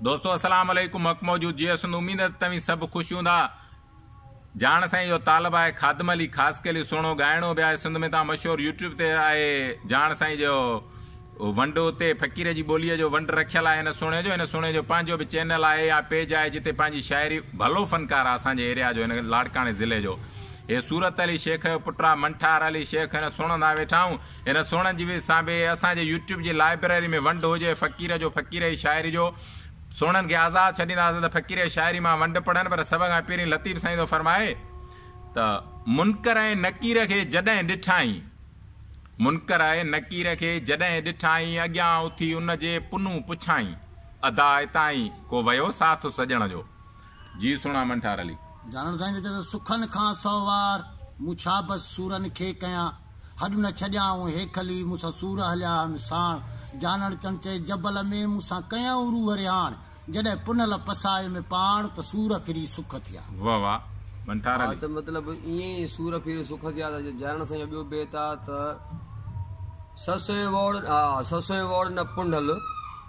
دوستو السلام عليڪم حق موجود جي اسند اميد آهي ته توهين سڀ خوش هوندا جاڻ سان اهو طالب آهي خادم علي خاصخيلي سهڻو ڳائڻو به آهي سنڌ ۾ تان مشهور يوٽيوب تي آهي جاڻ سائين جو ونڊ اتي فقير جي ٻوليء جو ونڊ رکيل آهي هن سهڻي جو هن سهڻي جو پنهنجو به چينل آهي يا پيج آهي جتي پنهنجي شاعري ڀلو فنڪار آهي اسان جي ايريا جو هن لاڙڪاڻي ضلعي جو هي صورت علي شيخ جو پٽ آهي منٺار علي شيخ هن سڻندا ويٺا آهيون هن سونهن جي ويس سان به اسان جي يوٽيوب جي لائبرري ۾ ونڊ هجي فقير جو فقير جي شاعري جو سونهن کي آزاد ڇڏينداسين ته فقير جي شاعري مان ونڊ پڙهن پر سڀ کان پهرين لطيف سائين ٿو فرمائي ته منڪر ۽ نڪير کي جڏهن ڏٺائين منڪر ۽ نڪير کي جڏهن ڏٺائين اڳيان اٿي ان جي پنون پڇائين ادا اتائين ڪو ويو ساٿ سڄڻ جو جي سهڻا منٺار علي جانڻ سائين چيو ته سکن کان سهوار مون ڇا بس سورن کي ڪيان. هڏ نه ڇڏيائون هيکلي، مون سان سور هليا هن ساڻ. جانڻ چڻ چئي جبل ۾، مون سان ڪيائون روح رهاڻ. جڏهن پنهل پسائي ۾ پاڻ، ته سور ڦري سک ٿيا. واه واه ڀنٽار علي. ها ته مطلب ائين ئي سور ڦري سک ٿيا ته جي جانڻ سان جو ٻيو بيت آ ته سسئي ووڙ ها سسئي ووڙ نه پنهل.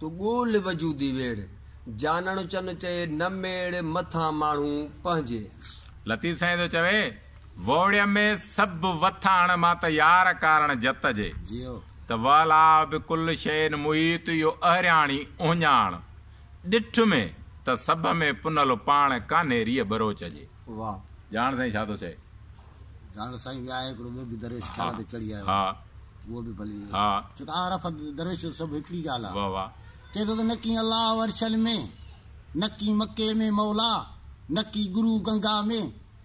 تو ڳول وجودي ويڙهه، جانڻ چن چئي نه ميڙ مٿان ماڻهو پنهنجي. لطيف سائين ٿو چوي، ووڙيء ۾ سڀ وٿاڻ مان ته يار ڪارڻ جت جي. ته وئلا به ڪل شئين محيط اهو اهرياڻي اهڃاڻ، ڏٺ ۾ ته سڀ ۾ پنهل پاڻ ڪانهي ريء ٻروچ جي. واه. جاڻ سائين ڇا ٿو چئي. جاڻ سائين ويا آهي هڪڙو ٻيو به درويش خيال تي چڙهي آيو آهي اهو به ڀلي ڇو ته عارف ۽ درويش جو سڀ هڪڙي ڳالهه آهي واه چئي ٿو ته نه ڪي الله عرشن ۾ نه ڪي مڪي ۾ مولا نه ڪي گرو گنگا ۾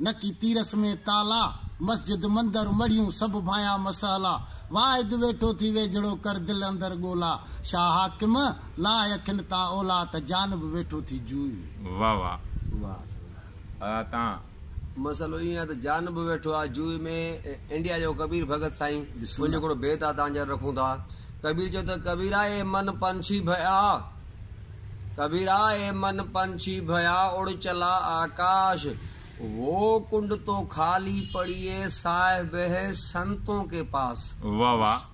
نه ڪي تيرس ۾ تالا مسجد مندر مڙهيون سڀ ڀانيا مسئلا واحد ويٺو ٿي ويجهڙو ڪر دل اندر ڳولا شاهه حاڪم لاء اکين تان اولا ته جانب ويٺو ٿي جوئي ۾ واه واه. واه. ھئا تان. مسئلو ايئن آ ته جان به ويٺو آ جوئي ۾ انڊيا جو ڪبير ڀڳت سائين بسم انجو الله. ھڪڙو بيت آ تان جي اڳ رکون ٿا ڪبير چيو ته ڪبيرا اي من پنڇي ڀيا ڪبيرا اي من پنڇي ڀيا اڙ چلا آڪاش وو ڪنڊ تو خالي پڙيي سائه بهه سنتون ڪي پاس. واھ واھ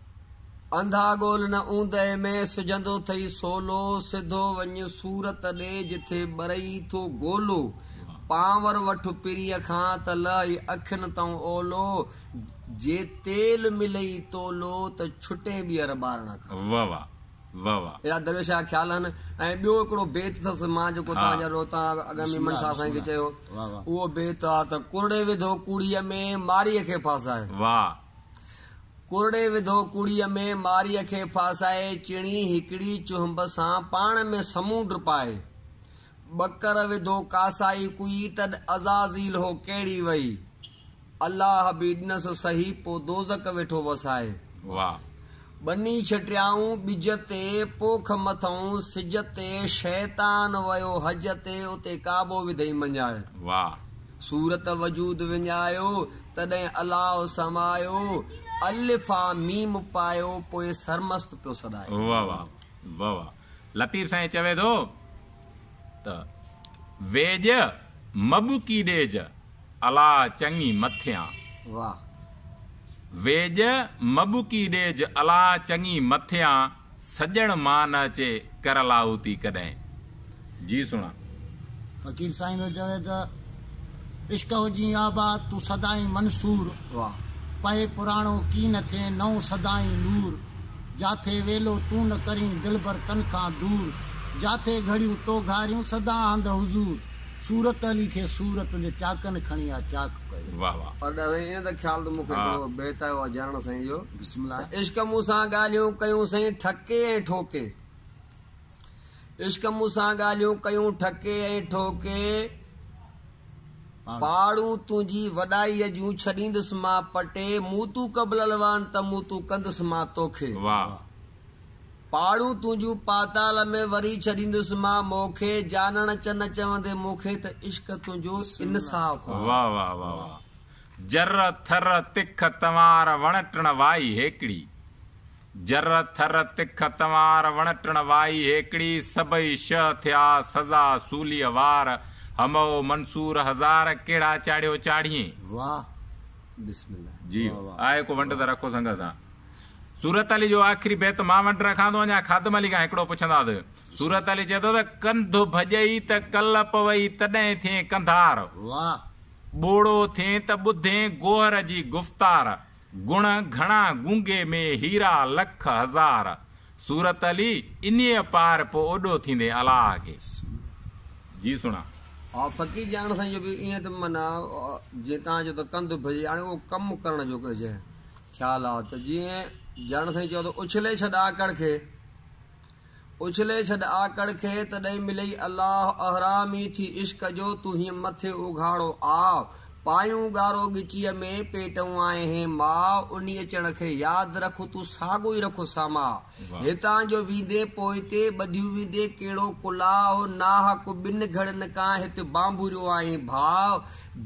انڌا ڳول نه اوندهه ۾، سجهندو ٿئي سولو، سڌو وڃ صورت ڏي، جٿي ٻرئي ٿو گولو، پانور وٺ پريء کان، ته لهي اکين تئون اولو، جي تيل ملئي تولو، ته ڇٽين ٻيهر ٻارڻ کان. واه واه واه واه. اهڙا درويش جا خيال آهن ۽ ٻيو هڪڙو بيت اٿس مان جيڪو توهان جا روتا اڳ ۾ منشا سائين کي چيو اهو بيت آ ته ڪرڙي وڌو ڪوڙيء ۾، ماريء کي ڦاسائي. واه ڪورڙي وڌو ڪوڙيء ۾، ماريء کي ڦاسائي، چڻي هڪڙي چهنب سان، پاڻ ۾ سمونڊ پائي. ٻڪر وڌو ڪاسائي ڪوئي، تڏ عزازيل هو ڪهڙي وئي. الله به ڏنس سهي، پوء دوزخ ويٺو وسائي. واهه! ٻني ڇٽيائون ٻج تي، پوک مٿئون سج تي، شيطان ويو حج تي، اتي ڪعبو وڌئي مڃايو. واھ. صورت وجود وڃايو، تڏهن الله سمايو، الف آ ميم پايو، پوء سرمست پيو سڏايو. واھ واھ واھ واھ. لطيف سائين چوي ٿو ته، ويڄ مٻڪي ڏيج الا چڱي مٿيان. واھ. ويڄ مٻڪي ڏيج الا چڱي مٿيان سڄڻ مان نه اچي ڪر لاهوتي ڪڏهن. جي سڻا. فقير سائين جو چوي ته. عشق هجين آباد تون سدائين منصور. واھ. پهي پراڻو ڪي نه ٿئين نئون سدائين نور. جاٿي ويلو تون نه ڪرين دلبر تن کان دور. جاٿي گهڙيون تو گهاريون سدا هنڌ حضور. صورت علي کي سور تنهنجي چاڪن کڻي آ چاڪ ڪيو. واھ واھ. پر ڏا سائين ايئن ته خيال ته مون کي هڪڙو بيت آيو آ جانڻ سائين جو. بسم الله. ته عشق مون سان ڳالهيون ڪيون سائين ٺڪي ۽ ٺوڪي. عشق مون سان ڳالهيون ڪيون ٺڪي ۽ ٺوڪي پاڙون تنهنجي وڏائيء جون ڇڏيندس مان پٽي مون تون قبل الوان ته مون تون ڪندس مان توکي پاڙون تنهنجون پاتال ۾ وري ڇڏيندس مان موکي جانڻ چه نه چوندي مون کي ته عشق تنهنجو انصاف آهي. جر ٿر تک تنوار وڻ ٽڻ وائي هيڪڙي. جر ٿر تک تنوار وڻٽڻ وائي هيڪڙي سڀئي شهه ٿيا سزا سوليء وار همئو منصور هزار ڪهڙا چاڙهيو چاڙهيين. واھ بسم الله جي واھ واھ آهي ڪو ونڊ ته رکو سنگه سان. صورت علي جو آخري بيت مان ونڊ رکان ٿو اڃا خادم علي کان هڪڙو پڇندا ته صورت علي چئي ٿو ته ڪنڌ ڀڄئي ته ڪل پوئي تڏهن ٿئين ڪنڌار واھ. ٻوڙو ٿئين ته ٻڌين گوهر جي گفتار گڻ گهڻا گونگي ۾ هيرا لک هزار. صورت علي انيء پار پو اوڏو ٿيندين الله کي جي سڻا. آء فقير جان سائين جو به ائين ته معنيٰ جيئن توهان چئو ته ڪنڌ اڀرجي هاڻي اهو ڪم ڪرڻ جو ڪنهن جي خيال آ ته جيئن جان سائين چئو ته اڇلي ڇڏ آڪڙ کي. اڇلي ڇڏ آڪڙ کي ته ڏئي ملئي الله احرامي ٿي عشق جو تون هينء مٿي اگهاڙو آء پايون ڳارو ڳچيء ۾ پيٽئون آء هين ماء انهي اچڻ کي ياد رک تون ساڳو ئي رک ساما هتان جو ويندين پوئتي ٻڌيون ويندين ڪهڙو ڪلاء ناحق ٻن گهڙين کان هت بانڀوريو آهين ڀاء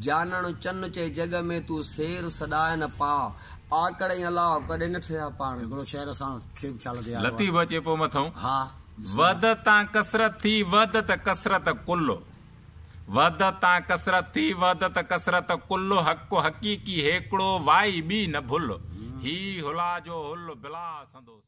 جانڻ چن چئي جڳ ۾ تون سير سڏائين پاء آڪڙ ۽ الله ڪڏهن نه ٺهيا پاڻ. هڪڙو شعر اسان. لطيف اچي پو مٿئون. وحدت تان ڪثرت ٿي وحدت ڪثرت ڪل وحدت تان ڪثرت ٿي وحدت ڪثرت ڪل حق حقيقي هيڪڙو وائي ٻي نه ڀل هي هلا جو هل بلا سندو سڄڻ.